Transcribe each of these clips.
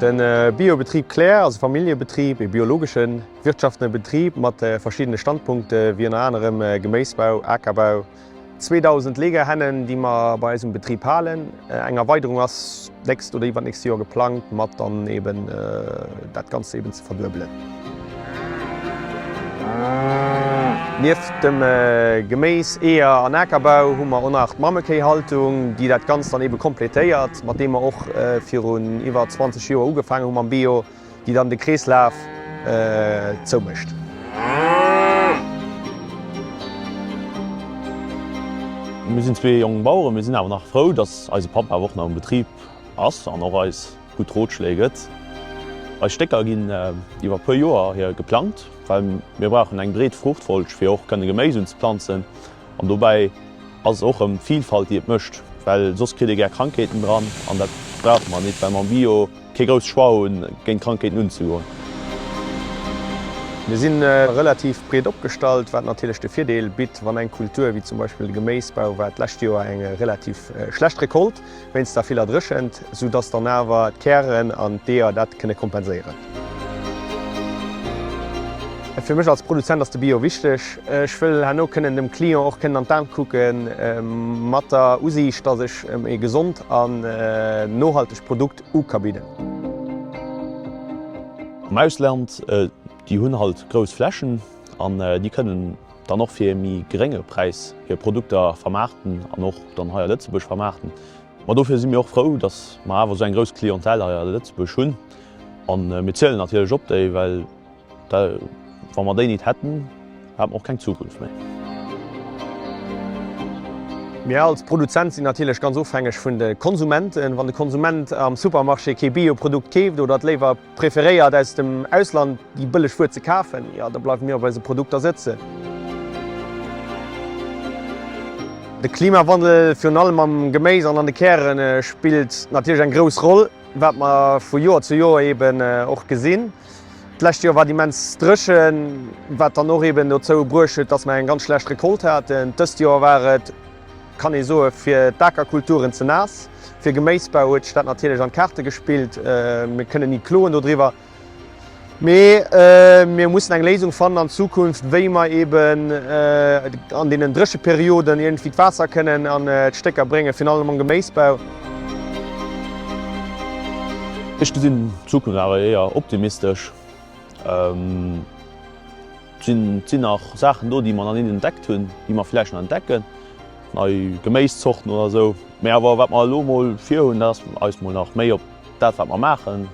De Biobetrib Claire ass e Familljebetrib, ee biologeschen, wirtschaftene Betrib mat verschiddene Standpunkte wéi ënner anerem Geméisbau, Akerbau, 2000 Legerhennen, déi mer bei eisem Betrib halen. Eng Erweiderung ass D'nächst oder iwwernächst Joer geplangt, mat dann eben dat Ganzt eben ze verduebelen. Nieft dem Geméis, Eeër an Akerbau hu mer och nach d'Mammekéihaltung, déi dat Ganzt dann eben completéiert, mat deem mer och virun iwwer 20 Joer ugefaangen hu mam Bio. déi dann de Kreeslaf zoumécht. Mir sinn zwee jonk Baueren, mir sinn awer nach frou, dass eise Papp awer och nach um Betrib ass an och eis gutt Rotschléi gëtt. Eis Stécker ginn iwwer e puer Joer hier geplangt, well mir brauchen eng breet Fruuchtfolg, fir och kënne Geméis unzeplanzen. An dobäi ass et och erëm d'Vilfalt déi et mécht, well soss kritt ee gär Krankheeten dran an dat brauche mer nit, well mer am Bio kee grousse Choix hu géint Krankheeten unzegoen. Mir si relativ breet opgestallt, wat natierlech de Virdeel bitt, wann eng Kultur, wéi zum Beispill de Geméisbau, war d'lescht Joer eng relativ schlecht Recolte, wéinst der viller Dréchent, sou dass dann awer d'Kären an d'Eeër dat kënne kompenséieren. Fir mech als Produzent ass de Bio wichteg. Ech wëll herno kënnen dem Client och kënnen an d'Aen kucke mat der Usiicht, dass ech em ee gesond an nohaltegt Produkt u ka bidden. Am Ausland, déi hunn halt grouss Flächen an déi kënnen. dann och fir ee méi grénge Präis hir Produkter vermaarten an och dann hei a Lëtzebuerg vermaarten. Ma dofir si mir och frou, datt mer awer esou eng grouss Clientèle hei a Lëtzebuerg hunn. A mir zielen natierlech op déi, well wa mer déi nit hätten, hätt mer och keng Zukunft méi. Mir als Produzent sinn natierlech ganz ofhängeg vun de Konsumenten. Wann de Konsument am Supermarché kee Bio-Produkt keeft oder et léiwer Preferéiert aus dem Ausland déi bëlleg Wuer ze kafen? Jo, da bleiwe mir op eise Produkter sëtzen. De Klimawandel, virun allem am Geméis an an de Kären, spillt natierlech eng grouss Roll, wat mer vu Joer zu Joer eben och gesinn. D'lescht Joer war et immens dréchen, wat dann och eben dozou bruecht huet, dass mer eng ganz schlecht Recolte haten. Dëst Joer war et. kann ee soe fir d'Akerkulturen ze naass. Fir Geméisbau huet sech dat natierlech an d'Kaarte gespillt. Mir kënnen ni kloen dodriwwer, mee mir mussen eng Léisung fannen an Zukunft, wéi mer eben an deenen Drécheperioden iergendwéi d'Waasser kënnen an d'Stécker bréngen, virun allem am Geméisbau. Ech gesinn d'Zukunft awer éier optimistesch. Et sinn nach Saachen do, déi mer nach net entdeckt hunn, déi mer vläicht nach entdecken, nei Geméiszorten oder esou. Mee awer wat mer elo mol virhunn, dat ass eis mol nach méi op dat, wat mer maachen,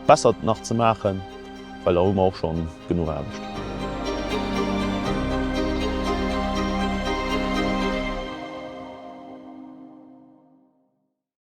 besser nach ze maachen, well da hu mer och scho genuch Aarbecht.